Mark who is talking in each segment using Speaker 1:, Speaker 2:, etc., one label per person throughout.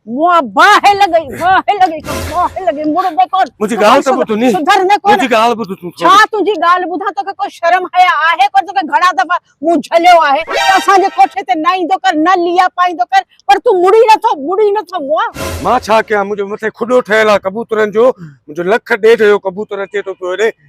Speaker 1: مون باهه لڳي باهه لڳي ته باهه لڳي مڙ به ڪون منهنجي ڳالهه ته ٻڌ ني
Speaker 2: سڌر نه ڪون منهنجي ڳالهه ٻڌ
Speaker 1: تون ڇا
Speaker 2: تنهنجي ڳالهه ٻڌان
Speaker 1: توکي ڪو شرم حيا آهي ڪو توکي گهڻا دفعا مون جهليو آهي ته اسان جي ڪوٺي تي نه ايندو ڪر نه ليئا پائيندو ڪر پر تون مڙي نٿو مڙي نٿو مون مان ڇا ڪيان منهنجي
Speaker 2: مٿي کڏو ٺهيل آهي ڪبوترن جو منهنجو لک ڏيڍ جو ڪبوتر اچي ٿو پيو هيڏي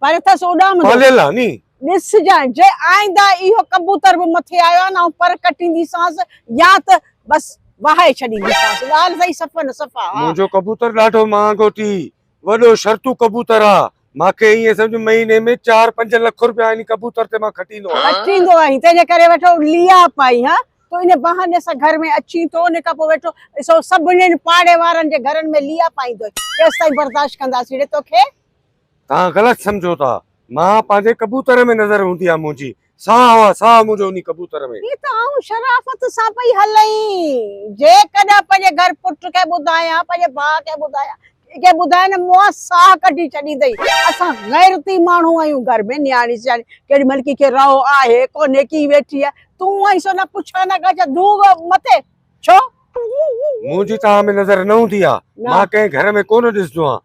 Speaker 2: پر اٿس
Speaker 1: اڏامندو پاليل آ ني.
Speaker 2: ڏس جانء جي
Speaker 1: آئنده اهو ڪبوتر به مٿي آيو آ نه آئون پر ڪٽينديسانس يا ته بس وهائي ڇڏينديسانس ڳالهه سهي صفا نه صفا آ. منهنجو ڪبوتر ڏاڍو
Speaker 2: مهانگو ٿي وڏو شرطو ڪبوتر آ مان کي ائين سمجهه مهيني ۾ چار پنج لک روپيا انهي ڪبوتر تي مان کٽيندو آهيان. کٽيندو آهين تنهنجي ڪري ويٺو
Speaker 1: لياپ آهين ها تو انهي بهاني سان گهر ۾ اچين ٿو انهي کان پوء ويٺو سو سڀني پاڙي وارن جي گهرن ۾ لياپ آئيندوئي ڪيستائين برداشت ڪنداسين ڙي توکي توهان
Speaker 2: غلط سمجهو ٿا. مان پنهنجي ڪبوتر ۾ نظر هوندي آ منهنجي. ساهه هو ساهه منهنجو انهي ڪبوتر ۾. هي ته آئون شرافت
Speaker 1: سان پئي هلين. جيڪڏهن پنهنجي گهر پٽ کي ٻڌايان پنهنجي ڀاء کي ٻڌايان ڪنهن کي ٻڌايان نه منهن ساهه ڪڍي ڇڏيندئي. اسان غيرتي ماڻهو آهيون گهر ۾ نياڻي سياڻي ڪيڏي مهل ڪنهن کي رئو آهي ڪونهي ڪي ويٺي آهي تون آهين سو نه پڇا نه ڳاڇا ڌوڳ مٿي ڇو. منهنجي
Speaker 2: توهان ۾ نظر نه هوندي آ. مان ڪنهن گهر ۾ ڪونه ڏسندو آهيان.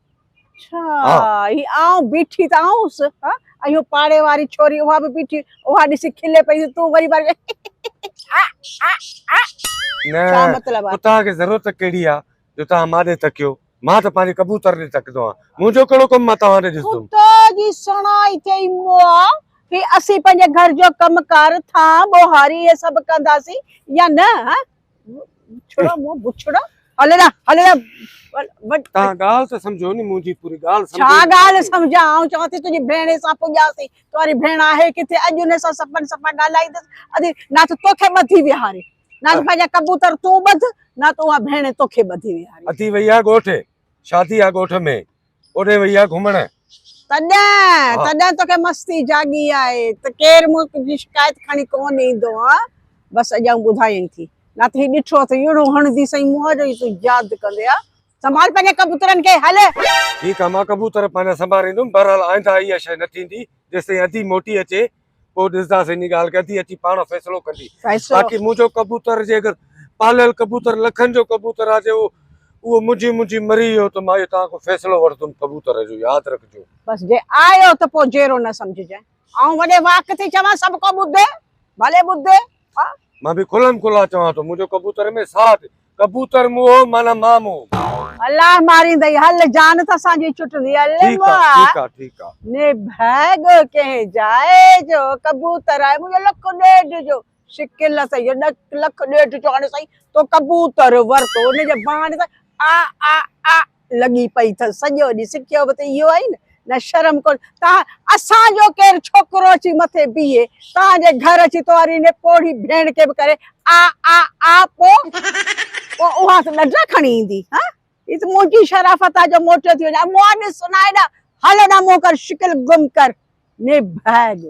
Speaker 2: اڇا
Speaker 1: هي آئون بيٺي ته آئونس ها اهو پاڙي واري ڇوري اها به بيٺي اها ڏسي کلي پئي تون وري وري نه ڇا مطلب آ اتها کي ضرورت ڪهڙي آ
Speaker 2: جو تها مان ڏي تڪيو مان ته پنهنجي ڪبوتر ڏي تڪدو آ منهنجو ڪهڙو ڪم مان توهان ڏي ڏسدم ڪتا جي سڻائي
Speaker 1: ٿئي موا هي اسين پنهنجي گهر جو ڪم ڪار ٿان ٻوهاري هي سڀ ڪنداسين يا نه ها ڇڙا مون بڇڙا هلڙا هلڙا
Speaker 2: تان ڳالهه ته سمجهو ني منهنجي پوري ڳالهه سمجهو ڇا ڳالهه سمجهان
Speaker 1: آئون چوان ٿي تنهنجي ڀيڻ سان پڄاسي تواري ڀيڻ آهي ڪٿي اڄ ان سان سپن سپا ڳالهائيندس ادي نه ته توکي ٻڌي ويهاري نه ته پنهنجا ڪبوتر تون ٻڌ نه ته اها ڀيڻ توکي ٻڌي ويهاري اٿي وئي آ ڳوٺ
Speaker 2: شادي آ ڳوٺ ۾ اوڏي وئي آ گهمڻ. تڏهن
Speaker 1: تڏهن توکي مستي جاڳي آهي ته ڪير مون جي شڪايت کڻي ڪونه ايندو ها بس اڄ آئون ٻڌايئين ٿي نه ته هي ڏٺو اٿ يڙو هڻندي سائين منهن جو ئي تون ياد ڪندي ها سنڀال پنهنجي ڪبوترن کي هل ٺيڪ آ مان
Speaker 2: ڪبوتر پنهنجا سنڀاريندم بهرحال آئنده اها شيء نه ٿيندي جيستائين ادي موٽي اچي پوء ڏسنداسين انهي ڳالهه کي ادي اچي پاڻ فيصلو ڪندي باقي منهنجو ڪبوتر جي اگر پاليل ڪبوتر لکن جو ڪبوتر آ جي اهو منهنجي منهنجي مري ويو ته مان اهو توهان کان فيصلو وٺندم ڪبوتر جو ياد رکجو. بس جي آيو
Speaker 1: ته پوء جيرو نه سمجهجانء آئون وڏي واڪ ٿي چوان سڀ ڪو ٻڌي ڀلي ٻڌي ها. مان به
Speaker 2: کلم کلا چوان ٿو منهنجو ڪبوتر ۾ ساهه اٿي ڪبوتر موهه معنيٰ مان موهه. الله ماريندئي
Speaker 1: هل جان ته اسان جي چٽندي علم آ
Speaker 2: ني ڀي
Speaker 1: ڳوء ڪنهن جاء جو ڪبوتر آهي منهنجو لک ڏيڍ جو شڪل سهي جو لک ڏيڍ جو هاڻي سائين تو ڪبوتر ورتو ان جي بهاني سان آ آ آ لڳي پئي اٿس سڄو ڏينهن سکيو به ته اهو آهي نه نه شرم ڪونه تان اسان جو ڪير ڇوڪرو اچي مٿي بيهي تان جي گهر اچي تواري انهي پوڙهي ڀيڻ کي به ڪري آء آء آء پو پو اها ته ڏڍا کڻي ايندي ها هي ته منهنجي شرافت آهي جو موٽيو ٿي وڃان مون ڏس نه هيڏا هل نه مون ڪر شڪل گم ڪر ني ڀاڳ.